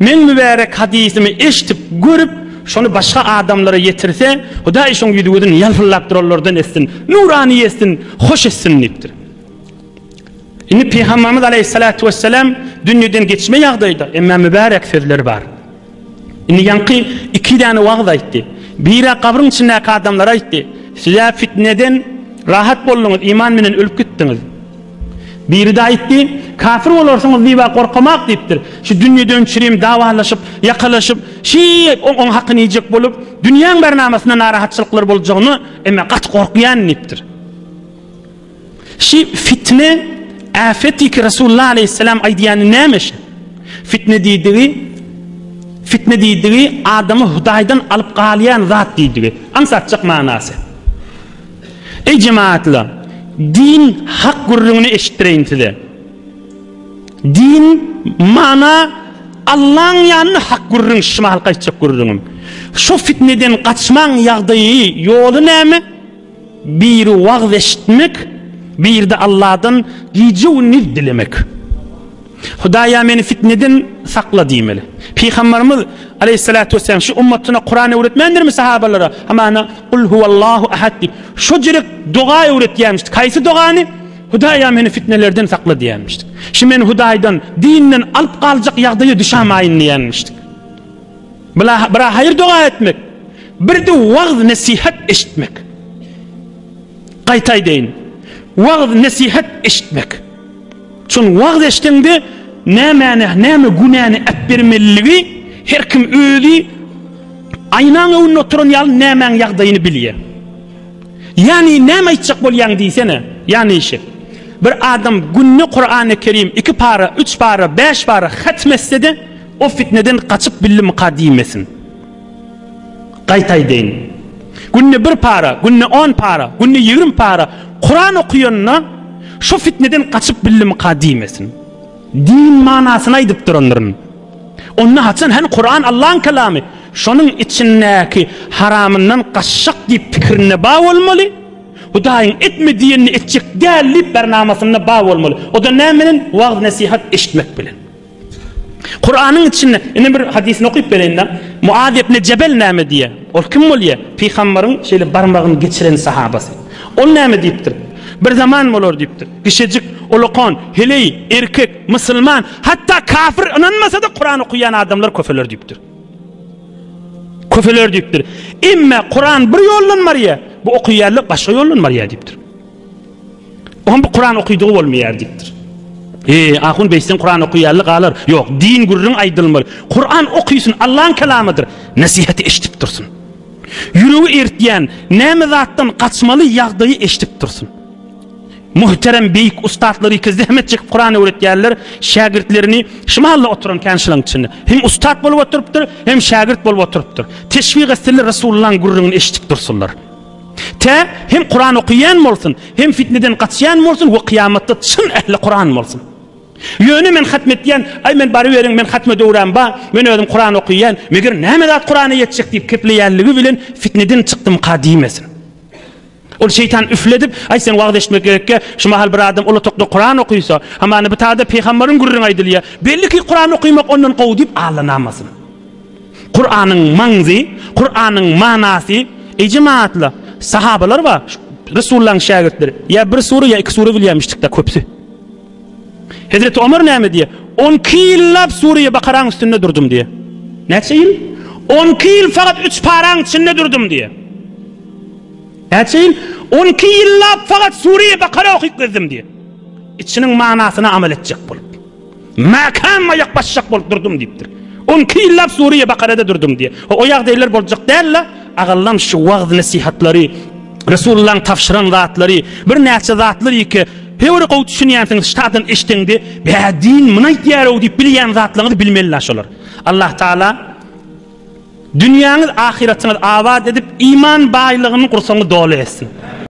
Men mübärek hadysymy eşidip, görüp, şony başga adamlara ýetirse, Hudaý şoň ýüzi-gözüni ýalpyldap duranlardan etsin, nurany etsin, hoş etsin diýipdir. Indi Pygamberimiz aleýhissalatu wessalam dünýeden geçme ýagdaýda, emma mübärek sözleri bar. Indi ýaňky iki däne wagyz aýtdy. Biri gabryň içindäki adamlara aýtdy. Size fitneden rahat bolduňyz, iman menen ölüp gitdiňiz. Biri-de aýtdy, Kafir bolarsyňyz diýib-ä gorkamak diýipdir. Şu dünýeden çirim dawalaşyp, ýakalaşyp, şeýe oň hakyny iýjek bolup, dünýäň bärnamasynda narahatçylyklar boljagyna eme gaty gorkýan diýipdir. Şi fitne, äfet diýki Resulullah aleýhisselam aýdýany näme şi? Fitne diýdigi, fitne diýdigi adamy Hudaýdan alyp galýan zat diýdigi. Aňsatjak manasy. Eý jemagatlar! Din hak gürrüňini eşitdireýin size. Din, mana, Allaň ýanynda hak gürrüň, şumy halka aýtjak gürrüňim. Şu fitneden gaçmaň ýagdaýy, ýoly näme? Biri wagyz eşitmek, biride Alladan gije-gündiz dilemek. Hudaýa meni fitneden sakla diýmeli. Pygambarymyz, aleýhissalatu wesselam, şu ummatyna Kuran öwretmändirmi sahabalara? Hamana Kul huwallahu ahad diýip, şojrek doga öwretýärmişdi. Kaýsy dogany? Hudaýa meni fitnelerden sakla diýýärmişdi. Şu meni Hudaýdan, dinden alyp galjak ýagdaýa düşämaýyn diýýärmişdi. Bula bir haýyr doga etmek, bir de wagz nesihat eşitmek. Gaýta aýdaýyn. Wagz nesihat eşitmek. Şony wagyz etseňde nämäni näme günäni äpbermeliligi her kim özi aýnaň öwünde oturan ýaly nämäň ýagdaýyny bilýär. Ýani näme aýtjak bolýaň diýsene. Ýani işi. Bir adam günde Kurany Kerim iki para, üç para, bäş para hatm etsede o fitneden gaçyp bildimika diýmesin. Gaýta aýdaýyn. Günde bir para, günde on para, günde ýigrimi para Kuran okaýanyna şu fitneden gaçyp bildimikä diýmesin. Din manasyny aýdyp durandyryn. Onda haçan hany Kuran Allaň kalamy, şonuň içindäki haramyndan gaçjak diýip pikirinde bar bolmaly, Hudaýyň etme diýenini etjek däl diýip bernamasynda bar bolmaly. O-da näme bilen? Wagyz-nesihat eşitmek bilen. Kuranyň içinde ine bir hadysyny okyp bereýin-de. Muaz ibn Jebel näme diýýär? Ol kim bolýar? Pygamberiň şeýle barmagyny geçiren sahabasy. Ol näme diýipdir? Bir zaman bolar diýipdir. Kişejik, ulakan, heleý, erkek, musulman, hatda kafir ynanmasa-da Kuran okaýan adamlar köpeler diýipdir. Köpeler diýipdir. Emme Kuran bir ýoldan barýar, bu okaýanlar başga ýoldan barýar diýipdir. Oňa bu Kuran okydygy bolmaýar diýipdir. He, ahun beý sen Kuran okaýaly galar. Ýok, din gürrüň aýdylmaly. Kuran okysyn, Allaň kelamydyr. Nesihaty eşdip dursun. Ýüregi eritýän näme zatdan gaçmaly ýagdaýy eşdip dursun. Muhterem beýik ustatlary iki zähmet çekip Kuran öwretýärler, şägirtlerini şu mahalla oturan kän şulaň içinde. Hem ustat bolup oturypdyr, hem şägirt bolup oturypdyr. Teşbih etseler Resulullaň gürrüňini eşdip dursunlar. Tä hem Kuran okaýan bolsun, hem fitneden gaçýan bolsun we kyýamatda çyn ähli Kuran bolsun. Ýöne men hatm etýän, aý men baryberiň, men hatme döwram bar, men özüm Kuran okaýan, meger näme zat Kurana ýetjek diýip kepleýänligi bilen fitneden çykdymyka diýmesin. Ol şeýtan üfledip, aý sen wagyz eşitmek gerekkä, şu mahal bir adam ulatakda Kuran okaýsa, hamana bitada pygamberiň gürrüňi aýdylýar, belli ki Kuran okaýmak ondan gowy diýip allanamasyn. Kuranyň maňzy, Kuranyň manasy, Ejem atly sahabalar bar, Resulullahyň şägirtleri. Ýa bir sure, ýa iki sure bilýämişdik-de köpsi. Hezreti Omar näme diýýär? On iki ýyllap Sure-i Bakaraň üstünde durdum diýýär. Näçe ýyl? On iki ýyl fakat üç paraň içinde durdum diýýär. Näçe ýyl? On iki ýyllap fakat Sure-i Bakara okyp gezdim diýýär. Içiniň manasyna amal etjek bolup. Mäkäm aýak basjak bolup durdum diýipdir. On iki ýyllap Suriýe Bakarada durdum diýýär. O ýagdaýlar boljak däl-le. Agallam şu wagyz nesihatlary, Resulullaň tabşyran zatlary, birnäçe zatlar ýeke höwri gowy düşünýänsiňiz ştadan eşdeňde, bä din muny aýtýar-ow diýip bilýän zatlaňyzy bilmeli-la şolar. Allah Taala dünýäňiz ahyretiňiz abat edip iman baýlygyny gursaňyz doly etsin.